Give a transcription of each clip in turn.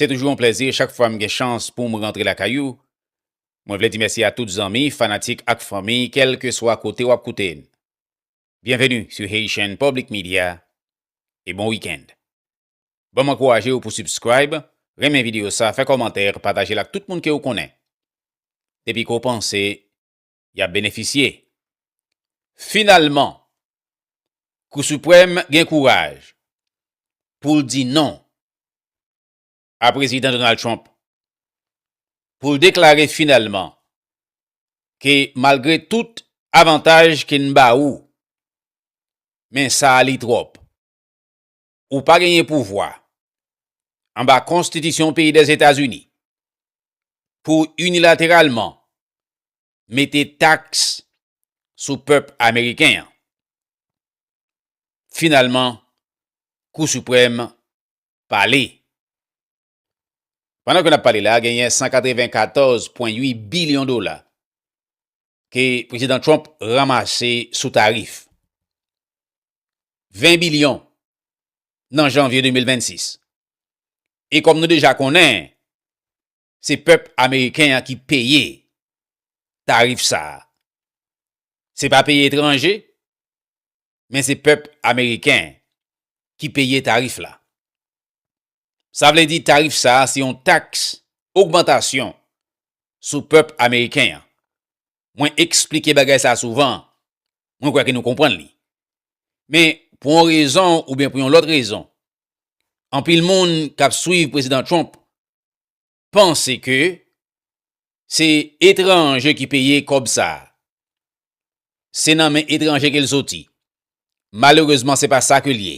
Se toujou yon plèzi chak fwa m gen chans pou m rantre lakay ou. Mwen vle di mèsi a tout zanmi, fanatik ak fanmi kèlkeswa kote w ap koute n. Byenveni sou Haitian Public Media e bon weekend. Ban m ankouraje ou pou subscribe, renmen videyo sa, fè kòmantè, pataje l ak tout moun ke ou konnen. Depi ke w panse y ap benefisye. Finalman, Kou Siprèm gen kouraj pou l di non a Prezidan Donald Trump, pou l deklare finalman ke malgre tout avantaj ke n ba ou, men sa a li twòp. Ou pa genyen pouvwa, anba konstitisyon peyi Dèzetazini, pou w inilateralman mete taks sou pèp ameriken an. Finalman, Kou Siprèm pale. Pandan ke n ap pale la, genyen 194,8 bilyon dola ke Prezidan Trump ranmase sou tarif. 20 bilyon nan janvye 2026. E kòm nou deja konnen, se pèp ameriken an ki peye tarif sa. Se pa peyi etranje, men se pèp ameriken ki peye tarif la. Sa vle di tarif sa se yon taks ogmantasyon sou pèp ameriken an. Mwen eksplike bagay sa souvan, mwen kwè ke nou konprann li. Men, pou yon rezon oubyen pou yon lòt rezon, anpil moun k ap swiv Prezidan Trump panse ke se etranje ki peye kòb sa. Se nan men etranje ke l soti. Malerezman se pa sa ke l ye.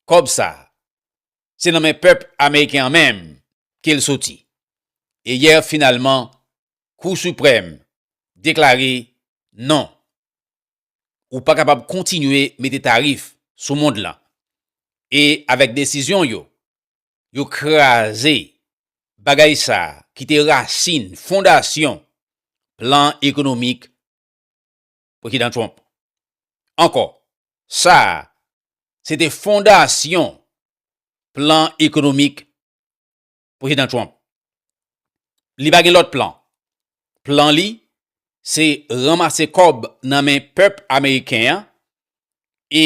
Kòb sa, se nan men pèp ameriken an menm ke l soti. E yè finalman, Kou Siprèm deklare non. Ou pa kapab kontinye mete tarif sou mond lan. E avèk desizyon yo, yo kraze bagay sa a ki te rasin, fondasyon plan ekonomik Prezidan Trump. Ankò, sa a se te fondasyon plan ekonomik Prezidan Trump. Li pa gen lòt plan. Plan li, se ranmase kòb nan men pèp ameriken an e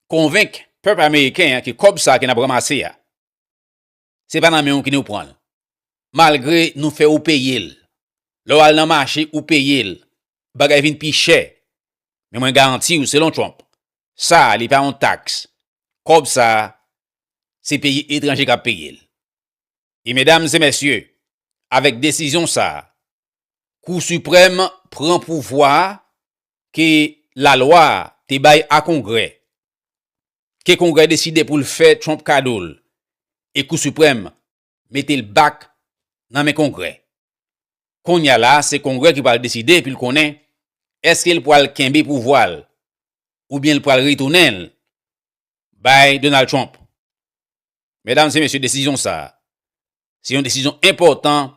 konvenk pèp ameriken an ke kòb sa ke n ap ranmase a, se pa nan men ou ke nou pran l. Malgre nou fè ou peye l. Lè w al nan mache, ou peye l. Bagay vin pi chè. Men mwen garanti ou, selon Trump, sa li pa yon taks. Kòb sa, se peyi etranje kap peye l. E medam e mesye, avèk desizyon sa, kou siprèm pran pouvwa ke lalwa te bay a kongrè, ke kongrè deside pou l fè Trump kado l, e kou siprèm mete l back nan men kongrè. Konnya la se kongrè ki pral deside pou l konnen eske l pral kenbe pouvwa l, oubyen l pral retounen l bay Donald Trump. Medam e mesye desizyon sa a se yon desizyon enpòtan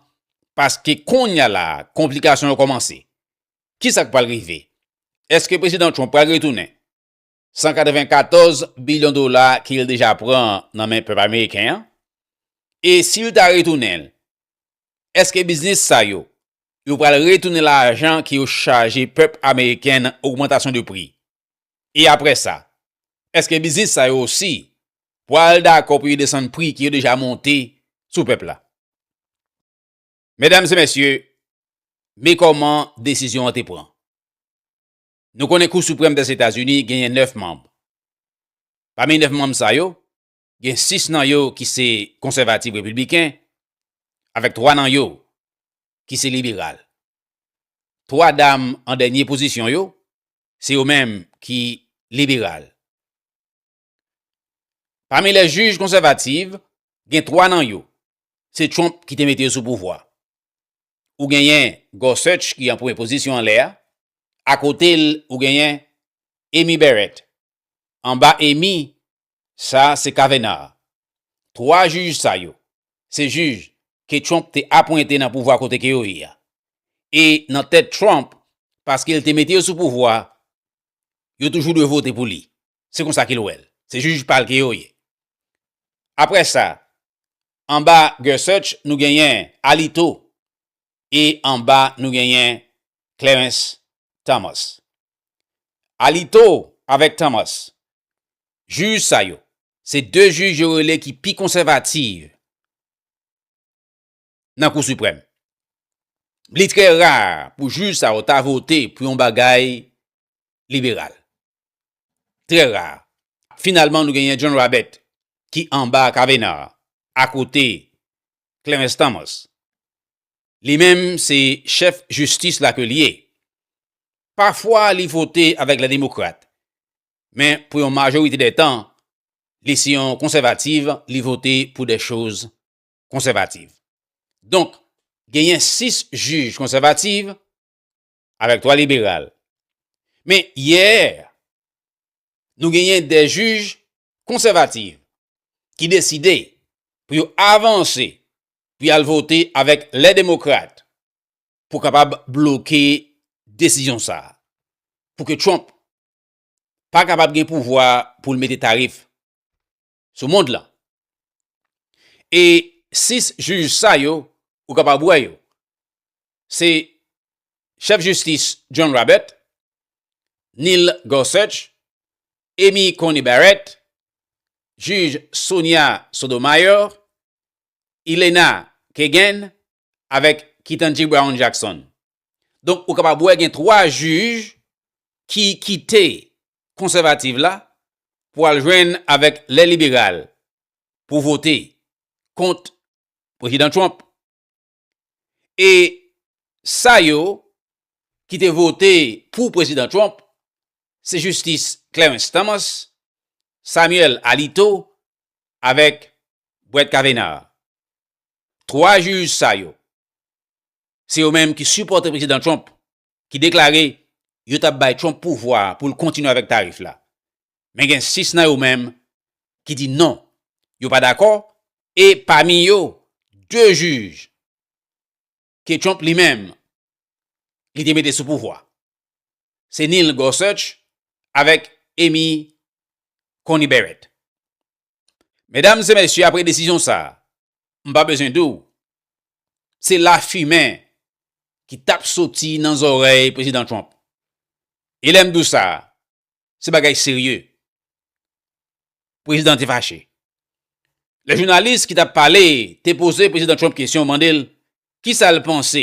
paske konnya la a konplikasyon yo kòmanse. Kisa k pral rive? Eske Prezidan Trump pral retounen 194 bilyon dola ke l deja pran nan men pèp ameriken an? E si l ta retounen l, eske biznis sa yo, yo pral retounen lajan ke yo chaje pèp ameriken nan ogmantasyon de pri? E apre sa? Eske biznis sa yo osi pwal dakò pou yo desann pri ki yo deja monte sou pèp la? Medam e mesye, me kòman desizyon an te pran. Nou konnen Kou Siprèm dè Etazini genyen 9 manb. Pami 9 manm sa yo, gen 6 nan yo ki se konsèvativ repibliken, avèk 3 nan yo ki se liberal. 3 dam an dènye pozisyon yo, Se yo menm ki liberal. Pami lè jij konsèvativ, gen 3 nan yo, se Trump ki te mete yo sou pouvwa. Ou genyen Gorsuch ki an premye pozisyon anlè a, akote l ou genyen Amy Barrett. Anba Amy, Sa se Kavenar. Twa jij sa yo, se jij ke Trump te apwente nan pouvwa kote ke yo ye a. E nan tèt Trump, paske l te mete yo sou pouvwa, yo toujou dwe vote pou li. Se konsa ke l wè l. Se jij pa l ke yo ye. Apre sa, anba Gorsuch, nou genyen Alito, e anba nou genyen Clarens Thomas. Alito avèk Thomas, jij sa yo, se 2 jij yo rele ki pi konsèvativ nan Kou Siprèm. Li trè ra pou jij sa yo ta vote pou yon bagay liberal. Trè ra. Finalman nou genyen John Rabeth ki anba Kavanaugh akote Clarens Thomas. Li menm se chèf jistis la ke li ye. Pafwa li vote avèk lè demokrat, men pou yon majorite dè tan, li se yon konsèvativ, li vote pou dè choz konsèvativ. Donk, genyen 6 jij konsèvativ, avèk 3 liberal. Men yè nou genyen 2 jij konsèvativ ki deside pou yo avanse pou yal vote avèk lè demokrat pou kapab bloke desizyon sa a pou ke Trump pa kapab gen pouvwa pou l mete tarif sou mond lan. E 6 jij sa yo, ou kapab wè yo, se chèf jistis John Roberts, Neil Gorsuch, Amy Coney Barrett, jij Sonia Sotomayor, Elena Kagan avèk Ketanji Brown Jackson. Donk ou kapab wè gen 3 jij ki kite konsèvativ la pou al jwenn avèk lè liberal pou vote kont Prezidan Trump. E sa yo ki te vote pou Prezidan Trump se Jistis Clarence Thomas, Samuel Alito avèk Brett Kavanaugh. 3 jij sa yo, se yo menm ki sipòte Prezidan Trump ki deklare yo tap bay Trump pouvwa pou l kontinye avèk tarif la. Men gen 6 nan yo menm ki di non, yo pa dakò e pami yo 2 jij ke Trump li menm li te mete sou pouvwa. Se Neil Gorsuch avèk Amy Coney Barrett. Medam e mesye apre desizyon sa, m pa bezwen di w, se lafimen ki t ap soti nan zòrèy Prezidan Trump. E lè m di w sa, se bagay serye. Prezidan te fache. Lè jounalis ki t ap pale te poze Prezidan Trump kesyon, mande l kisa l panse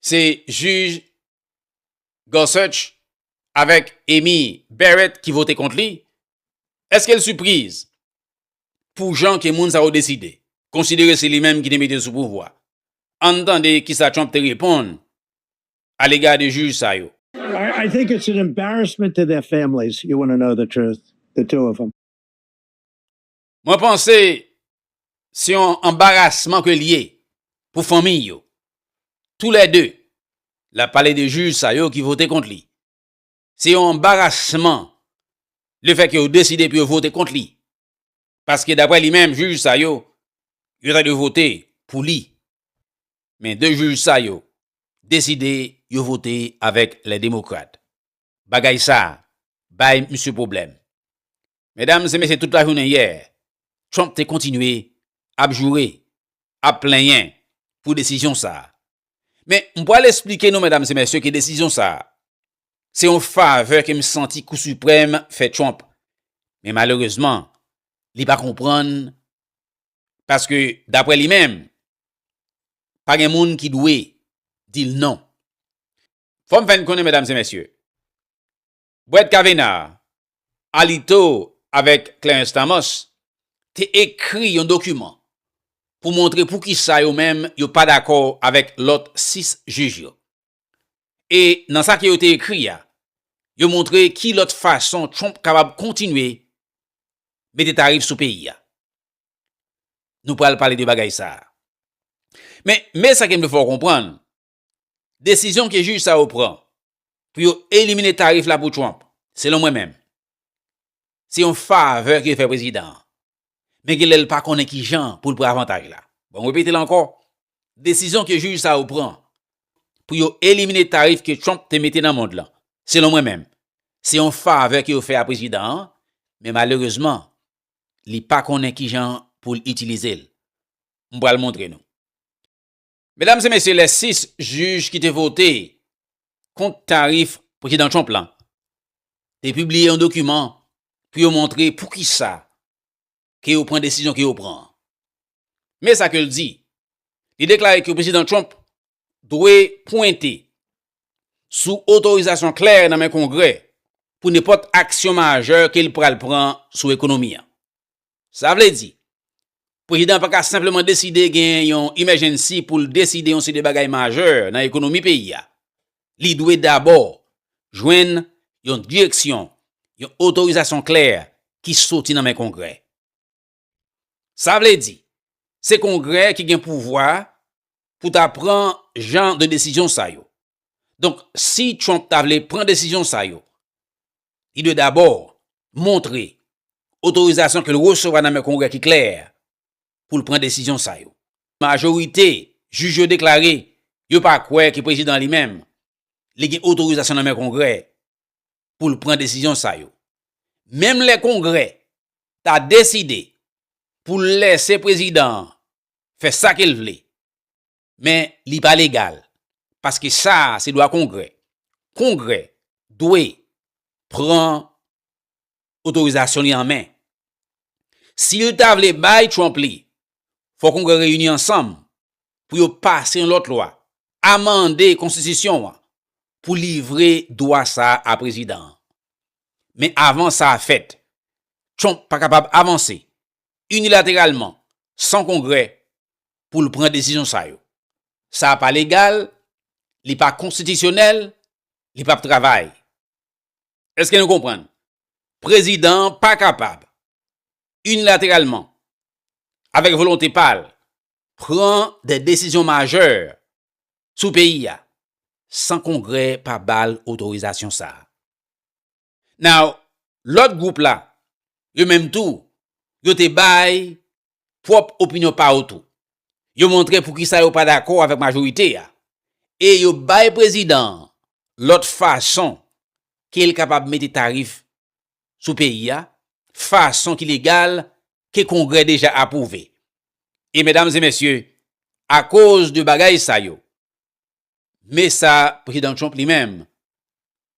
se jij Gorsuch avèk Amy Barrett ki vote kont li, èske l sipriz pou jan ke moun sa yo deside, konsidere se li menm ki te mete l sou pouvwa? Ann tande kisa Trump te reponn alega de jij sa yo. I think it's an embarrassment to their families, you wanna know the truth, the two of them. Mwen panse se yon anbarasman ke li ye pou fanmiy yo. Tou lè 2, lap pale de jij sa yo ki vote kont li. Se yon anbarasman le fè ke yo deside pou yo vote kont li. Paske daprè li menm jij sa yo, yo ta dwe vote pou li. Men 2 jij sa yo deside yo vote avèk lè demokrat. bagay sa bay misye pwoblèm. Medam e mesye tout lajounen yè Trump te kontinye ap joure, ap plenyen pou desizyon sa. Men m pwal esplike nou medam e mesye ke desizyon sa se yon favè ke m santi kou siprèm fè Trump. Men malerezman li pa konprann paske dapre li menm pa gen moun ki dwe di l non. Fò m fè n konnen medam e mesye, Brett Kavanaugh, Alito avèk Clarence Thomas te ekri yon dokiman pou montre poukisa yo menm yo pa dakò avèk lòt 6 jij yo. E nan sa ke yo te ekri a, yo montre ki lòt fason Trump kapab kontinye mete tarif sou peyi a. Nou pral pale de bagay sa a. Men, men sa ke m vle fè w konprann, Desizyon ke jij sa yo pran pou yo elimine tarif la pou Trump, selon mwen menm, se yon favè ke yo fè prezidan an. Men gen lè l pa konnen ki jan pou l pran avantaj la. Bon, m repete l ankò, desizyon ke jij sa yo pran pou yo elimine tarif ke Trump te mete nan mond lan, selon mwen menm, se yon favè ke yo fè a prezidan an, men malerezman, li pa konnen ki jan pou l itilize l. M pral montre nou. Medam e mesye lè 6 jij ki te vote kont tarif prezidan Trump lan te pibliye yon dokiman pou yo montre poukisa ke yo pran desizyon ke yo pran an. Men sa ke l di, li deklare ke prezidan Trump dwe pwente sou otorizasyon klè nan men kongrè pou nenpòt aksyon majè ke l pral pran sou ekonomi an. Sa vle di, Prezidan an pa ka senpleman deside gen yon emèjennsi pou l deside yon seri de bagay majè nan ekonomi peyi a. Li dwe dabò jwenn yon direksyon, yon otorizasyon klè ki soti nan men Kongrè. Sa vle di, se Kongrè ki gen pouvwa pou ta pran jan de desizyon sa yo. Donk, si Trump ta vle pran desizyon sa yo, li dwe dabò montre otorizasyon ke l resevwa nan men Kongrè ki klè pou l pran desizyon sa yo. Majorite jij yo deklare yo pa kwè ke Prezidan an li menm li gen otorizasyon nan men Kongrè pou l pran desizyon sa yo. Menm lè Kongrè ta deside pou l lèse Prezidan an fè sa ke l vle, men li pa legal paske sa a se dwa Kongrè. Kongrè dwe pran otorizasyon li an men. Si l ta vle bay Trump li, fò Kongrè reyini ansanm pou yo pase yon lòt lwa, amande konstitisyon an pou livre dwa sa a a prezidan an. Men avan sa a fèt, Trump pa kapab avanse inilateralman san Kongrè pou l pran desizyon sa yo. Sa a pa legal, li pa konstitisyonèl, li p ap travay. Eske nou konprann? Prezidan an pa kapab inilateralman, avèk volonte pa l, pran de desizyon majè sou peyi a san Kongrè pa ba l otorizasyon sa a. Now, lòt gwoup la, yo menm tou, yo te bay pwòp opinyon pa yo tou. Yo montre poukisa yo pa dakò avèk majorite a. E yo bay prezidan an lòt fason ke l kapab mete tarif sou peyi a, fason ki legal, ke Kongrè deja apwouve. E medam e mesye, akoz de bagay sa yo, me sa Prezidan Trump li menm,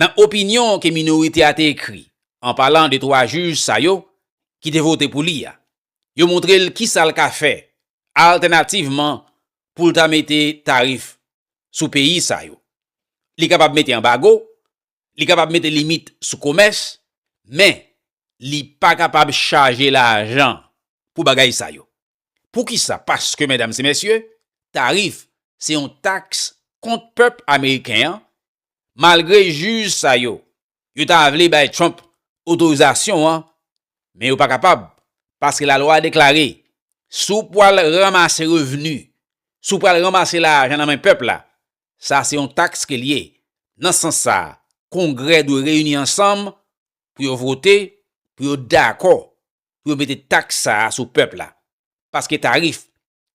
Nan opinyon ke minorite a te ekri, an palan de twa jij sa yo ki te vote pou li a, yo montre l kisa l ka fè altènativman pou l ta mete tarif sou peyi sa yo. Li kapab mete anbago, li kapab mete limit sou komès, men li pa kapab chaje lajan pou bagay sa yo. Poukisa? Paske, medam e mesye, tarif se yon taks kont pèp ameriken an, malgre jij sa yo, yo ta vle bay Trump otorizasyon an, men yo pa kapab, paske lalwa deklare, si w pwal ranmase revni, si w pwal ranmase lajan nan men pèp la, sa se yon taks ke l ye, nan sans sa, kongrè dwe reyini ansanm pou yo vote, pou yo dakò pou yo mete taks sa a sou pèp la, paske tarif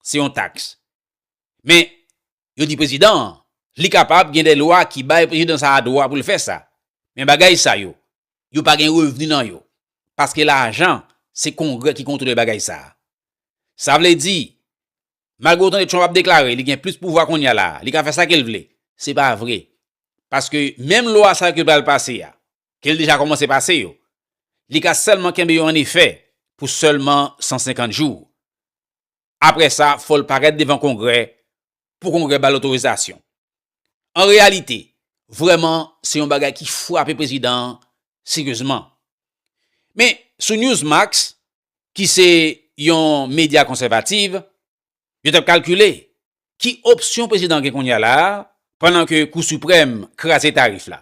se yon taks. Men, yo di prezidan an, li kapab gen de lwa ki bay prezidan sa a dwa pou l fè sa. Men bagay sa yo, yo pa gen revni nan yo, paske lajan se Kongrè ki kontwole bagay sa a. Sa vle di, malgre ou tande Trump ap deklare li gen plis pouvwa kounye a la a, li ka fè sa ke l vle, se pa vre. Paske menm lwa sa yo ke l pral pase a, ke l deja kòmanse pase yo, li ka sèlman kenbe yo an efè pou sèlman 150 jou. Apre sa, fò l parèt devan Kongrè pou Kongrè ba l otorizasyon. An reyalite, vrèman, se yon bagay ki frape prezidan an seryezman. Men, sou Newsmax, ki se yon medya konsèvativ, yo t ap kalkile ki opsyon prezidan an gen kounye a la a pandan ke Kou Siprèm kraze tarif la.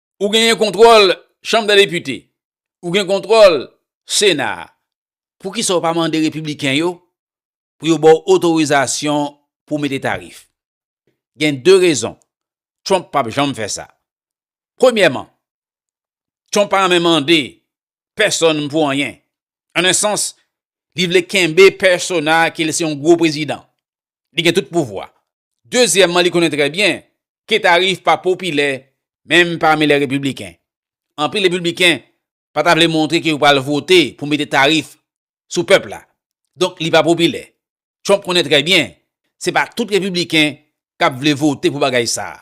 Ou genyen kontwòl chanm dè depite. Ou gen kontwòl sena. Poukisa ou pa mande repibliken yo pou yo ba w otorizasyon pou w mete tarif? Gen de rezon Trump pap janm fè sa. Premyèman, Trump pa renmen mande pèsonn pou anyen. An un sans, li vle kenbe pèsona ke l se yon gwo prezidan. li gen tout pouvwa. Dezyèmman li konnen trè byen ke tarif pa popilè menm pami lè repibliken. Anpil repibliken pa ta vle montre ke yo pral vote pou mete tarif sou pèp la. Donk li pa popilè. Trump konnen trè byen se pa tout repibliken kap vle vote pou bagay sa a.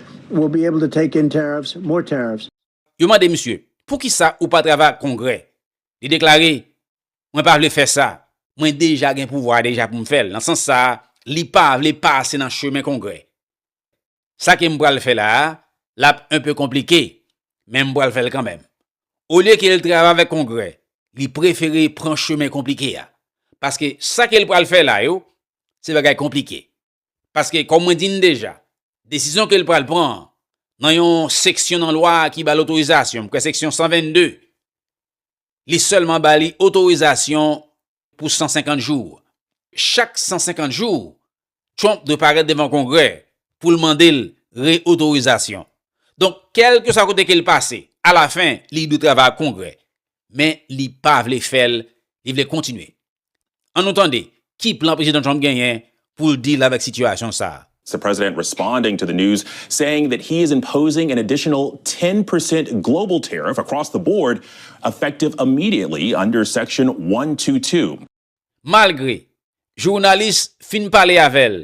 will be able to take in tariffs, more tariffs. Yo mande misye, Poukisa ou pa travay ak Kongrè? Li deklare, Mwen pa vle fè sa. Mwen deja gen pouvwa a deja pou m fè l. Nan sans sa a, li pa vle pase nan chemen Kongrè. Sa ke m pral fè la a, l ap un peu konplike, men m pral fè l kanmenm. Olye ke l travay avèk Kongrè, li prefere pran chemen konplike a. Paske sa ke l pral fè la yo, se bagay konplike. Paske kòm mwen di n deja, desizyon ke l pral pran an, nan yon seksyon nan lwa a ki ba l otorizasyon, m kwè seksyon 122, li sèlman ba li otorizasyon pou 150 jou. Chak 150 jou, Trump dwe parèt devan Kongrè pou l mande l re-otorizasyon. Donk, kèlkeswa kote ke l pase, alafen, li dwe travay ak Kongrè. Men, li pa vle fè l, li vle kontinye. An nou tande ki plan Prezidan Trump genyen pou l deal avèk sitiyasyon sa a. The president responding to the news saying that he is imposing an additional ten percent global tariff across the board effective immediately under Section one hundred and twenty two. Malgre jounalis fin pale avè l,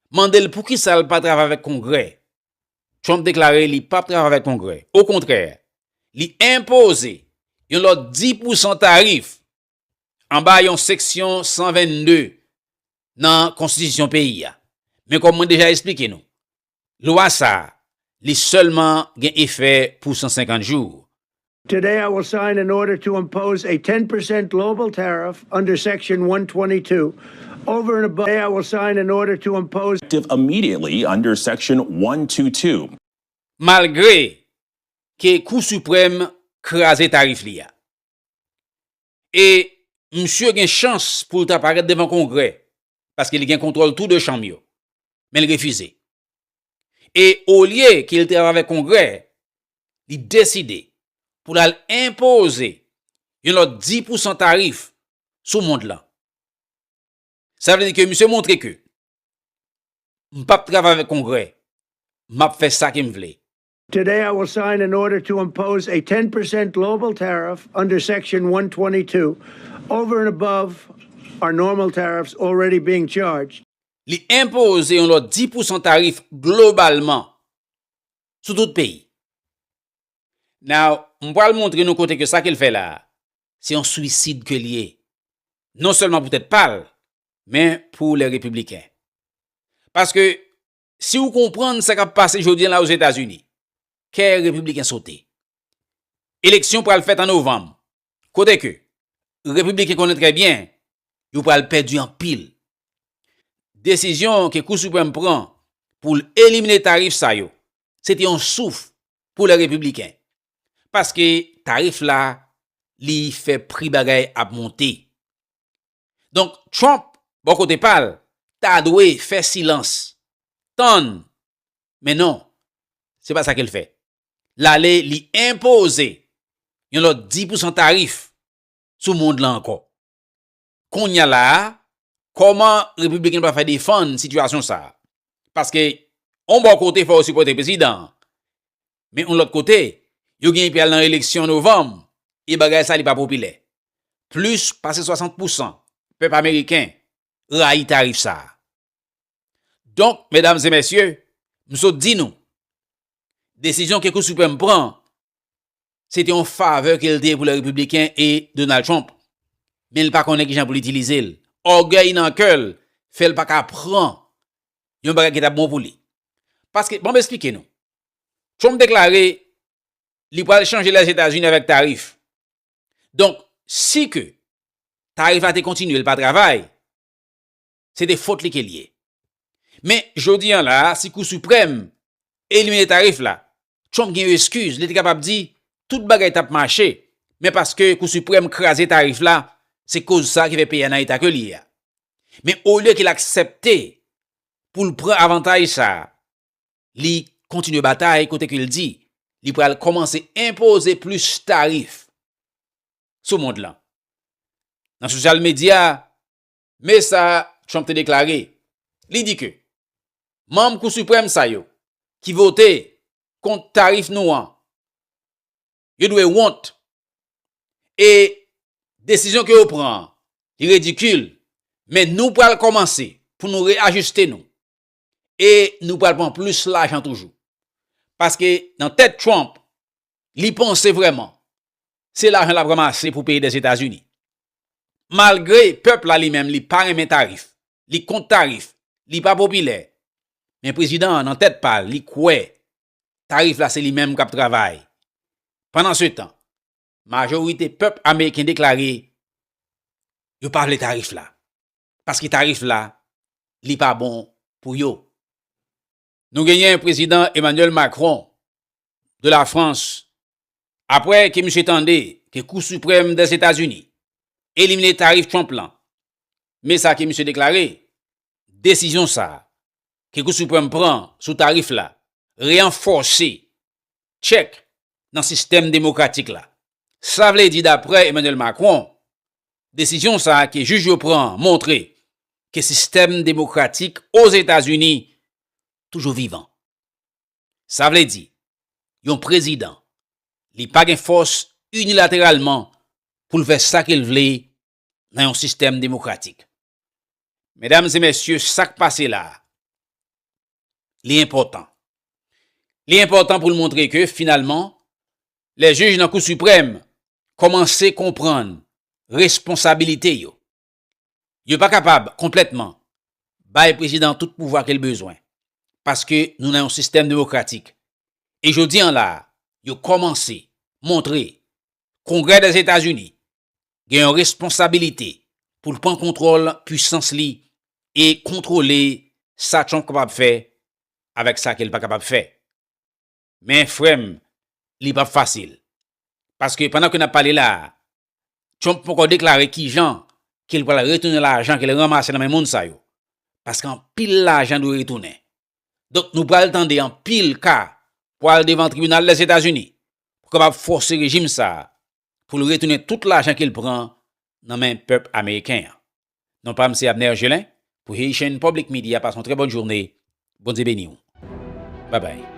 mande l poukisa l pa travay avèk Kongrè, Trump deklare li pap travay avèk Kongrè. Okontrè, li enpoze yon lòt 10 pousan tarif anba yon seksyon 122 nan konstitisyon peyi a. Men kòm mwen deja esplike nou, lwa sa a, li sèlman gen efè pou 150 jou. Today I will sign an order to impose a ten percent global tariff under section 122 over and above Today I will sign an order to impose. Effective immediately under section 122. Malgre ke Kou Siprèm kraze tarif li a. e msye gen chans pou l ta parèt devan Kongrè, paske li gen kontwòl tou de chanm yo, men l refize. E olye ke l travay avèk Kongrè, li deside pou l al enpoze yon lòt 10 pousan tarif sou mond lan. Sa vle di ke msye montre ke, m p ap travay avèk Kongrè, m ap fè sa ke m vle. Today I will sign an order to impose a ten percent global tariff under Section 122, over and above our normal tariffs already being charged. Li enpoze yon lòt 10 pousan tarif globalman sou tout peyi. Now, m pral montre nou kote ke sa ke l fè la a, se yon swisid ke l ye, non sèlman pou tèt pa l, men pou lè Repibliken. Paske, Si ou konprann sa k ap pase jodi an la Ozetazini, kè repibliken sote. Eleksyon pral fèt an novanm, kote ke repibliken konnen trè byen yo pral pèdi anpil. Desizyon ke Kou Siprèm pran pou l elimine tarif sa yo, se te yon souf pou lè repibliken, paske tarif la li fè pri bagay ap monte. Donk, Trump, bò kote pa l, ta dwe fè silans, tann, men non, se pa sa ke l fè. L ale li enpoze yon lòt 10 pousan tarif sou mond lan ankò. Kounya la a, kòman Repibliken yo pral fè defann sitiyasyon sa a? Paske, yon bò kote fò yo sipòte prezidan an, Men yon lòt kote, yo genyen pral nan eleksyon novanm e bagay sa li pa popilè. Plis pase 60 pousan pèp ameriken rayi tarif sa. Donk, medam e mesye, m sot di nou, desizyon ke Kou Siprèm pran, se te yon favè ke l te pou lè repibliken e Donald Trump. Men l pa konnen kijan pou l itilize l. Ògèy nan kè l fè l pa ka pran yon bagay ki t ap bon pou li. Paske, ban m esplike nou, Trump deklare li pral chanje Lèzetazini avèk tarif. Donk, si ke tarif la te kontinye, li pa travay, se te fot li ke li ye. Men, jodi an la, si Kou Siprèm elimine tarif la, Trump gen yon eskiz, li te kapab di, tout bagay t ap mache, men paske Kou Siprèm kraze tarif la, se koz sa ki fè peyi a nan eta ke li ye a. Men, olye ke l aksepte pou l pran avantaj sa a, li kontinye batay kote ke l di li pral kòmanse enpoze plis tarif sou mond lan. Nan sosyal medya, me sa Trump te deklare, li di ke manm Kou Siprèm sa yo ki vote kont tarif nou an, yo dwe wont e desizyon ke yo pran an li redikil men nou pral kòmanse pou nou reajiste nou e nou pral pran plis lajan toujou. Paske nan tèt Trump, li panse vrèman, se lajan lap ranmase pou peyi Dèzetazini. Malgre pèp la li menm li pa renmen tarif, li kont tarif, li pa popilè, men prezidan an nan tèt pa l, li kwè tarif la se li menm kap travay. Pandansetan, majorite pèp ameriken deklare yo pa vle tarif la. paske tarif la li pa bon pou yo. Nou genyen prezidan Emmanuel Macron de la France apre ke misye tande ke kou suprèm dè Etazini elimine tarif Trump lan men sa ke misye deklare desizyon sa ke kou suprèm pran sou tarif la reanfòse tchèk nan sistèm demokratik la. Sa vle di daprè Emmanuel Macron, desizyon sa ke jij yo pran an montre ke sistèm demokratik Ozetazini toujou vivan. Sa vle di, yon prezidan, li pa gen fòs inilateralman pou l fè sa ke l vle nan yon sistèm demokratik. Medam e mesye, sa k pase la a, li enpòtan. Li enpòtan pou l montre ke finalman, lè jij nan Kou Siprèm kòmanse konprann responsabilite yo, yo pa kapab konplètman bay prezidan tout pouvwa ke l bezwen, paske nou nan yon sistèm demokratik. E jodi an la a, yo kòmanse montre Kongrè Dèzetazini gen yon responsabilite pou l pran kontwòl pwisans li e kontwole sa Trump kapab fè avèk sa ke l pa kapab fè. Men frè m, li p ap fasil. Paske pandan ke n ap pale la a, Trump poko deklare kijan ke l pral retounen lajan ke l ranmase nan men moun sa yo. Paske anpil lajan dwe retounen. Donk nou pral tande anpil ka pwal devan tribinal Lèzetazini pou kapab fòse rejim sa a pou l retounen tout lajan ke l pran nan men pèp ameriken an. Non pa m se Abner Gelin pou Haitian Public Media pase yon trè bòn journe Bondye beni w babay.